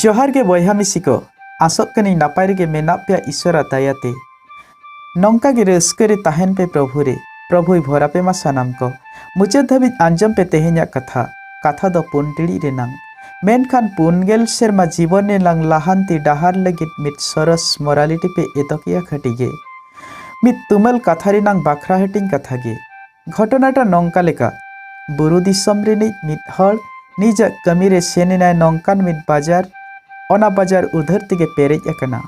ᱡᱚᱦᱟᱨ ᱜᱮ ᱵᱚᱭᱦᱟ ᱢᱤᱥᱤ ᱠᱚ ᱟᱥᱚᱜ ᱠᱟᱹᱱᱟᱹᱧ ᱱᱟᱯᱟᱭ ᱨᱮᱜᱮ ᱢᱮᱱᱟᱜ ᱯᱮᱭᱟ ᱤᱥᱚᱨᱟ ᱫᱟᱭᱟᱛᱮ ᱱᱚᱝᱠᱟ ᱜᱮ ᱨᱟᱹᱥᱠᱟᱹ ᱨᱮ ᱛᱟᱦᱮᱱ ᱯᱮ ᱯᱨᱚᱵᱷᱩ ᱨᱮ ᱯᱨᱚᱵᱷᱩᱭ ᱵᱷᱚᱨᱟ ᱯᱮ ᱢᱟ ᱥᱟᱱᱟᱢ ᱠᱚ ᱢᱩᱪᱟᱹᱫ ᱫᱷᱟᱹᱵᱤᱡ ᱟᱸᱡᱚᱢ ᱯᱮ ᱛᱮᱦᱮᱧᱟᱜ ᱠᱟᱛᱷᱟ ᱠᱟᱛᱷᱟ ᱫᱚ ᱯᱩᱱ ᱴᱤᱲᱤᱡ ᱨᱮᱱᱟᱝ ᱢᱮᱱᱠᱷᱟᱱ ᱯᱩᱱ ᱜᱮᱞ ᱥᱮᱨᱢᱟ ᱡᱤᱵᱚᱱ ᱨᱮᱱᱟᱝ ᱞᱟᱦᱟᱱᱛᱤ ᱰᱟᱦᱟᱨ ᱞᱟᱹᱜᱤᱫ ᱢᱤᱫ ᱥᱚᱨᱚᱥ ᱢᱚᱨᱟᱞᱤᱴᱤ ᱯᱮ ᱮᱛᱚᱠᱮᱜᱼᱟ ᱠᱷᱟᱹᱴᱤ ᱜᱮ ᱢᱤᱫ ᱛᱩᱢᱟᱹᱞ ᱠᱟᱛᱷᱟ ᱨᱮᱱᱟᱝ ᱵᱟᱠᱷᱨᱟ ᱦᱟᱹᱴᱤᱧ ᱠᱟᱛᱷᱟ ᱜᱮ ᱜᱷᱚᱴᱚᱱᱟᱴᱟ ᱱᱚᱝᱠᱟ ᱞᱮᱠᱟ ᱵᱩᱨᱩ ᱫᱤᱥᱚᱢ ᱨᱤᱱᱤᱡ ᱢᱤᱫ ᱦᱚᱲ ᱱᱤᱡᱟᱜ ᱠᱟᱹᱢᱤ ᱨᱮ ᱥᱮᱱ ᱮᱱᱟᱭ ᱱᱚᱝᱠᱟᱱ ᱢᱤᱫ ᱵᱟᱡᱟᱨ ᱚᱱᱟ ᱵᱟᱡᱟᱨ ᱩᱫᱷᱟᱹᱨ ᱛᱮᱜᱮ ᱯᱮᱨᱮᱡ ᱟᱠᱟᱱᱟ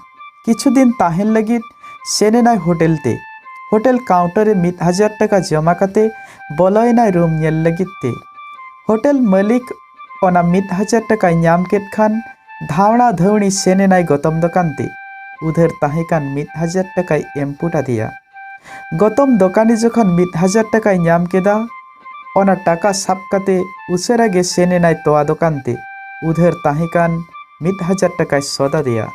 ᱠᱤᱪᱷᱩ ᱫᱤᱱ ᱛᱟᱦᱮᱱ ᱞᱟᱹᱜᱤᱫ ᱥᱮᱱ ᱮᱱᱟᱭ ᱦᱳᱴᱮᱞ ᱛᱮ ᱦᱳᱴᱮᱞ ᱠᱟᱣᱩᱱᱴᱟᱨ ᱨᱮ ᱢᱤᱫ ᱦᱟᱡᱟᱨ ᱴᱟᱠᱟ ᱡᱚᱢᱟ ᱠᱟᱛᱮ ᱵᱚᱞᱚᱭᱮᱱᱟᱭ ᱨᱩᱢ ᱧᱮᱞ ᱞᱟᱹᱜᱤᱫ ᱛᱮ ᱦᱳᱴᱮᱞ ᱢᱟᱹᱞᱤᱠ ᱚᱱᱟ ᱢᱤᱫ ᱦᱟᱡᱟᱨ ᱴᱟᱠᱟᱭ ᱧᱟᱢ ᱠᱮᱫ ᱠᱷᱟᱱ ᱫᱷᱟᱣᱲᱟ ᱫᱷᱟᱹᱣᱲᱤ ᱥᱮᱱ ᱮᱱᱟᱭ ᱜᱚᱛᱚᱢ ᱫᱚᱠᱟᱱ ᱛᱮ ᱩᱫᱷᱟᱹᱨ ᱛᱟᱦᱮᱸ ᱠᱟᱱ ᱢᱤᱫ ᱦᱟᱡᱟᱨ ᱴᱟᱠᱟᱭ ᱮᱢ ᱯᱩᱴ ᱟᱫᱮᱭᱟ ᱜᱚᱛᱚᱢ ᱫᱚᱠᱟᱱᱤ ᱡᱚᱠᱷᱚᱱ ᱢᱤᱫ ᱦᱟᱡᱟᱨ ᱴᱟᱠᱟᱭ ᱧᱟᱢ ᱠᱮᱫᱟ ᱚᱱᱟ ᱴᱟᱠᱟ ᱥᱟᱵ ᱠᱟᱛᱮ ᱩᱥᱟᱹᱨᱟ ᱜᱮ ᱥᱮᱱ ᱮᱱᱟᱭ ᱛᱚᱣᱟ ᱫᱚᱠᱟᱱ ᱛᱮ ᱩᱫᱷᱟᱹᱨ ᱛᱟᱦᱮᱸ ᱠᱟᱱ ᱢᱤᱫ ᱦᱟᱡᱟᱨ ᱴᱟᱠᱟᱭ ᱥᱚᱫ ᱟᱫᱮᱭᱟ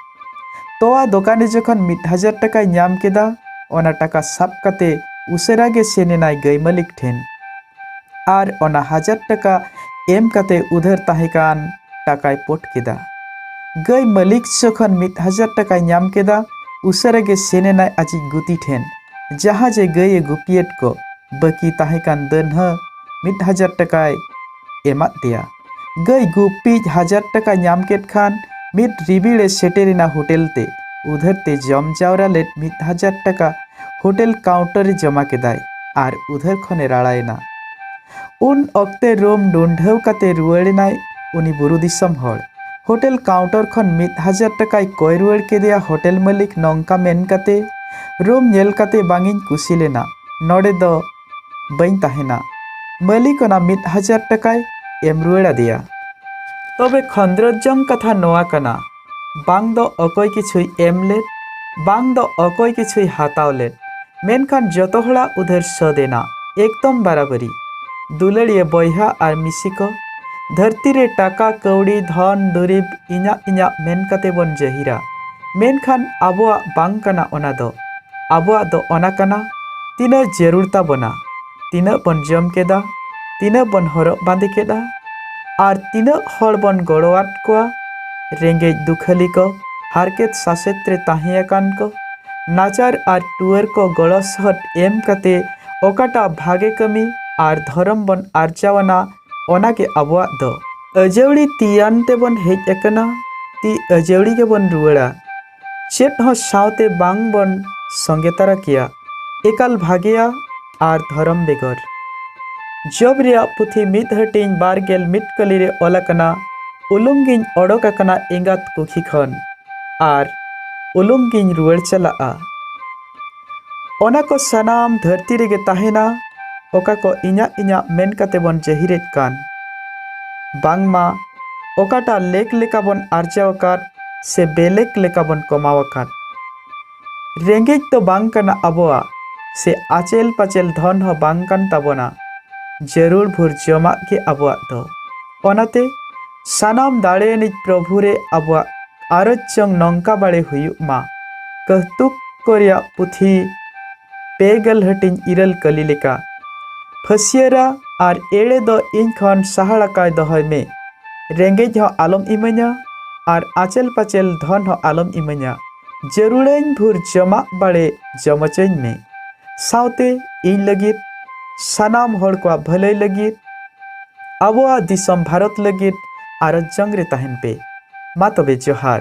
ᱛᱚᱣᱟ ᱫᱚᱠᱟᱱᱤ ᱡᱚᱠᱷᱚᱱ ᱢᱤᱫ ᱦᱟᱡᱟᱨ ᱴᱟᱠᱟᱭ ᱧᱟᱢ ᱠᱮᱫᱟ ᱚᱱᱟ ᱴᱟᱠᱟ ᱥᱟᱵ ᱠᱟᱛᱮ ᱩᱥᱟᱹᱨᱟ ᱜᱮ ᱥᱮᱱ ᱮᱱᱟᱭ ᱜᱟᱹᱭ ᱢᱟᱹᱞᱤᱠ ᱴᱷᱮᱱ ᱟᱨ ᱚᱱᱟ ᱦᱟᱡᱟᱨ ᱴᱟᱠᱟ ᱮᱢ ᱠᱟᱛᱮ ᱩᱫᱷᱟᱹᱨ ᱛᱟᱦᱮᱸ ᱠᱟᱱ ᱴᱟᱠᱟᱭ ᱯᱚᱴ ᱠᱮᱫᱟ᱾ ᱜᱟᱹᱭ ᱢᱟᱹᱞᱤᱠ ᱡᱚᱠᱷᱚᱱ ᱢᱤᱫ ᱦᱟᱡᱟᱨ ᱴᱟᱠᱟᱭ ᱧᱟᱢ ᱠᱮᱫᱟ, ᱩᱥᱟᱹᱨᱟ ᱜᱮ ᱥᱮᱱ ᱮᱱᱟᱭ ᱟᱡᱤᱡ ᱜᱩᱛᱤ ᱴᱷᱮᱱ, ᱡᱟᱦᱟᱸ ᱡᱮ ᱜᱟᱹᱭ ᱮ ᱜᱩᱯᱤᱭᱮᱫ ᱠᱚ ᱵᱟᱹᱠᱤ ᱛᱟᱦᱮᱸ ᱠᱟᱱ ᱫᱟᱹᱱ ᱦᱚᱸ ᱢᱤᱫ ᱦᱟᱡᱟᱨ ᱴᱟᱠᱟᱭ ᱮᱢᱟᱫ ᱫᱮᱭᱟ᱾ ᱜᱟᱹᱭ ᱜᱩᱯᱤᱡ ᱦᱟᱡᱟᱨ ᱴᱟᱠᱟ ᱧᱟᱢ ᱠᱮᱫ ᱠᱷᱟᱱ ᱢᱤᱫ ᱨᱤᱵᱤᱲᱮ ᱥᱮᱴᱮᱨᱮᱱᱟ ᱦᱳᱴᱮᱞ ᱛᱮ ᱩᱫᱷᱟᱹᱨ ᱛᱮ ᱡᱚᱢ ᱡᱟᱣᱨᱟ ᱞᱮᱫ ᱢᱤᱫ ᱦᱟᱡᱟᱨ ᱴᱟᱠᱟ ᱦᱳᱴᱮᱞ ᱠᱟᱣᱩᱱᱴᱟᱨ ᱨᱮ ᱡᱚᱢᱟ ᱠᱮᱫᱟᱭ ᱟᱨ ᱩᱫᱷᱟᱹᱨ ᱠᱷᱚᱱᱮ ᱨᱟᱲᱟᱭᱮᱱᱟ ᱩᱱ ᱚᱠᱛᱮ ᱨᱩᱢ ᱰᱩᱱᱰᱷᱟᱹᱣ ᱠᱟᱛᱮ ᱨᱩᱣᱟᱹᱲᱮᱱᱟᱭ ᱩᱱᱤ ᱵᱩᱨᱩ ᱫᱤᱥᱚᱢ ᱦᱚᱲ ᱦᱳᱴᱮᱞ ᱠᱟᱣᱩᱱᱴᱟᱨ ᱠᱷᱚᱱ ᱢᱤᱫ ᱦᱟᱡᱟᱨ ᱴᱟᱠᱟᱭ ᱠᱚᱭ ᱨᱩᱣᱟᱹᱲ ᱠᱮᱫᱮᱭᱟ ᱦᱳᱴᱮᱞ ᱢᱟᱹᱞᱤᱠ ᱱᱚᱝᱠᱟ ᱢᱮᱱ ᱠᱟᱛᱮ ᱨᱩᱢ ᱧᱮᱞ ᱠᱟᱛᱮ ᱵᱟᱝᱤᱧ ᱠᱩᱥᱤ ᱞᱮᱱᱟ ᱱᱚᱰᱮ ᱫᱚ ᱵᱟᱹᱧ ᱛᱟᱦᱮᱱᱟ ᱢᱟᱹᱞᱤᱠ ᱚᱱᱟ ᱢᱤᱫ ᱦᱟᱡᱟᱨ ᱴᱟᱠᱟᱭ ᱮᱢ ᱨᱩᱣᱟᱹᱲ ᱟᱫᱮᱭᱟ ᱛᱚᱵᱮ ᱠᱷᱚᱸᱫᱽᱨᱚᱫ ᱡᱚᱝ ᱠᱟᱛᱷᱟ ᱱᱚᱣᱟ ᱠᱟᱱᱟ ᱵᱟᱝ ᱫᱚ ᱚᱠᱚᱭ ᱠᱤᱪᱷᱩᱭ ᱮᱢ ᱞᱮᱫ ᱵᱟᱝ ᱫᱚ ᱚᱠᱚᱭ ᱠᱤᱪᱷᱩᱭ ᱦᱟᱛᱟᱣ ᱞᱮᱫ ᱢᱮᱱᱠᱷᱟᱱ ᱡᱚᱛᱚ ᱦᱚᱲᱟᱜ ᱩᱫᱷᱟᱹᱨ ᱥᱟᱹᱫ ᱮᱱᱟ ᱮᱠᱫᱚᱢ ᱵᱟᱨᱟᱵᱟᱹᱨᱤ ᱫᱩᱞᱟᱹᱲᱤᱭᱟᱹ ᱵᱚᱭᱦᱟ ᱟᱨ ᱢᱤᱥᱤ ᱠᱚ ᱫᱷᱟᱹᱨᱛᱤ ᱨᱮ ᱴᱟᱠᱟ ᱠᱟᱹᱣᱰᱤ ᱫᱷᱚᱱ ᱫᱩᱨᱤᱵ ᱤᱧᱟᱹᱜ ᱤᱧᱟᱹᱜ ᱢᱮᱱ ᱠᱟᱛᱮ ᱵᱚᱱ ᱡᱟᱹᱦᱤᱨᱟ ᱢᱮᱱᱠᱷᱟᱱ ᱟᱵᱚᱣᱟᱜ ᱵᱟᱝ ᱠᱟᱱᱟ ᱚᱱᱟ ᱫᱚ ᱟᱵᱚᱣᱟᱜ ᱫᱚ ᱚᱱᱟ ᱠᱟᱱᱟ ᱛᱤᱱᱟᱹᱜ ᱡᱟᱹᱨᱩᱲ ᱛᱟᱵᱚᱱᱟ ᱛᱤᱱᱟᱹᱜ ᱵᱚᱱ ᱡᱚᱢ ᱠᱮᱫᱟ ᱛᱤᱱᱟᱹᱜ ᱵᱚᱱ ᱦᱚᱨᱚᱜ ᱵᱟᱸᱫᱮ ᱠᱮᱫᱟ ᱟᱨ ᱛᱤᱱᱟᱹᱜ ᱦᱚᱲ ᱵᱚᱱ ᱜᱚᱲᱚᱣᱟᱫ ᱠᱚᱣᱟ ᱨᱮᱸᱜᱮᱡ ᱫᱩᱠᱷᱟᱹᱞᱤ ᱠᱚ ᱦᱟᱨᱠᱮᱛ ᱥᱟᱥᱮᱛ ᱨᱮ ᱛᱟᱦᱮᱸ ᱟᱠᱟᱱ ᱠᱚ ᱱᱟᱪᱟᱨ ᱟᱨ ᱴᱩᱣᱟᱹᱨ ᱠᱚ ᱜᱚᱲᱚ ᱥᱚᱦᱚᱫ ᱮᱢ ᱠᱟᱛᱮ ᱚᱠᱟᱴᱟᱜ ᱵᱷᱟᱜᱮ ᱠᱟᱹᱢᱤ ᱟᱨ ᱫᱷᱚᱨᱚᱢ ᱵᱚᱱ ᱟᱨᱡᱟᱣ ᱟᱱᱟ ᱚᱱᱟ ᱜᱮ ᱟᱵᱚᱣᱟᱜ ᱫᱚ ᱟᱹᱡᱟᱹᱣᱲᱤ ᱛᱤᱭᱟᱱ ᱛᱮᱵᱚᱱ ᱦᱮᱡ ᱟᱠᱟᱱᱟ ᱛᱤ ᱟᱹᱡᱟᱹᱣᱲᱤ ᱜᱮᱵᱚᱱ ᱨᱩᱣᱟᱹᱲᱟ ᱪᱮᱫ ᱦᱚᱸ ᱥᱟᱶᱛᱮ ᱵᱟᱝ ᱵᱚᱱ ᱥᱚᱸᱜᱮ ᱛᱟᱨᱟ ᱠᱮᱭᱟ ᱮᱠᱟᱞ ᱵᱷᱟᱜᱮᱭᱟ ᱟᱨ ᱫᱷᱚᱨᱚᱢ ᱵᱮᱜᱚᱨ ᱡᱚᱵ ᱨᱮᱭᱟᱜ ᱯᱩᱛᱷᱤ ᱢᱤᱫ ᱦᱟᱹᱴᱤᱧ ᱵᱟᱨ ᱜᱮᱞ ᱢᱤᱫ ᱠᱟᱹᱞᱤ ᱨᱮ ᱚᱞ ᱟᱠᱟᱱᱟ ᱩᱞᱩᱝ ᱜᱤᱧ ᱚᱰᱚᱠ ᱟᱠᱟᱱᱟ ᱮᱸᱜᱟᱛ ᱠᱩᱠᱷᱤ ᱠᱷᱚᱱ ᱟᱨ ᱩᱞᱩᱝ ᱜᱤᱧ ᱨᱩᱣᱟᱹᱲ ᱪᱟᱞᱟᱜᱼᱟ ᱚᱱᱟ ᱠᱚ ᱥᱟᱱᱟᱢ ᱫᱷᱟᱹᱨᱛᱤ ᱨᱮᱜᱮ ᱛᱟᱦᱮᱱᱟ ᱚᱠᱟ ᱠᱚ ᱤᱧᱟᱹᱜ ᱤᱧᱟᱹᱜ ᱢᱮᱱ ᱠᱟᱛᱮ ᱵᱚᱱ ᱡᱟᱹᱦᱤᱨᱮᱫ ᱠᱟᱱ ᱵᱟᱝᱢᱟ ᱚᱠᱟᱴᱟᱜ ᱞᱮᱠ ᱞᱮᱠᱟ ᱵᱚᱱ ᱟᱨᱡᱟᱣ ᱟᱠᱟᱫ ᱥᱮ ᱵᱮᱞᱮᱠ ᱞᱮᱠᱟ ᱵᱚᱱ ᱠᱚᱢᱟᱣ ᱟᱠᱟᱫ ᱨᱮᱸᱜᱮᱡ ᱫᱚ ᱵᱟᱝ ᱠᱟᱱᱟ ᱟᱵᱚᱣᱟᱜ ᱥᱮ ᱟᱪᱮᱞ ᱯᱟᱪᱮᱞ ᱫᱷᱚᱱ ᱦᱚᱸ ᱵᱟᱝ ᱠᱟᱱ ᱛᱟᱵᱚᱱᱟ ᱡᱟᱹᱨᱩᱲ ᱵᱷᱩᱨ ᱡᱚᱢᱟᱜ ᱜᱮ ᱟᱵᱚᱣᱟᱜ ᱫᱚ ᱚᱱᱟᱛᱮ ᱥᱟᱱᱟᱢ ᱫᱟᱲᱮᱭᱟᱱᱤᱡ ᱯᱨᱚᱵᱷᱩ ᱨᱮ ᱟᱵᱚᱣᱟᱜ ᱟᱨᱚᱡ ᱪᱚᱝ ᱱᱚᱝᱠᱟ ᱵᱟᱲᱮ ᱦᱩᱭᱩᱜ ᱢᱟ ᱠᱟᱹᱦᱛᱩᱠ ᱠᱚ ᱨᱮᱭᱟᱜ ᱯᱩᱛᱷᱤ ᱯᱮᱜᱮᱞ ᱦᱟᱹᱴᱤᱧ ᱤᱨᱟᱹᱞ ᱠᱟᱹᱞᱤ ᱞᱮᱠᱟ ᱯᱷᱟᱹᱥᱤᱭᱟᱹᱨᱟ ᱟᱨ ᱮᱲᱮ ᱫᱚ ᱤᱧ ᱠᱷᱚᱱ ᱥᱟᱦᱟᱲᱟᱠᱟᱭ ᱫᱚᱦᱚᱭ ᱢᱮ ᱨᱮᱸᱜᱮᱡ ᱦᱚᱸ ᱟᱞᱚᱢ ᱤᱢᱟᱹᱧᱟ ᱟᱨ ᱟᱪᱮᱞ ᱯᱟᱪᱮᱞ ᱫᱷᱚᱱ ᱦᱚᱸ ᱟᱞᱚᱢ ᱤᱢᱟᱹᱧᱟ ᱡᱟᱹᱨᱩᱲᱟᱹᱧ ᱵᱷᱩᱨ ᱡᱚᱢᱟᱜ ᱵᱟᱲᱮ ᱡᱚᱢ ᱦᱚᱪᱚᱧ ᱢᱮ ᱥᱟᱶᱛᱮ ᱤᱧ ᱞᱟᱹᱜᱤᱫ ᱥᱟᱱᱟᱢ ᱦᱚᱲ ᱠᱚᱣᱟᱜ ᱵᱷᱟᱹᱞᱟᱹᱭ ᱞᱟᱹᱜᱤᱫ ᱟᱵᱚᱣᱟᱜ ᱫᱤᱥᱚᱢ ᱵᱷᱟᱨᱚᱛ ᱞᱟᱹᱜᱤᱫ ᱟᱨᱚ ᱡᱚᱝ ᱨᱮ ᱛᱟᱦᱮᱱ ᱯᱮ ᱢᱟ ᱛᱚᱵᱮ ᱡᱚᱦᱟᱨ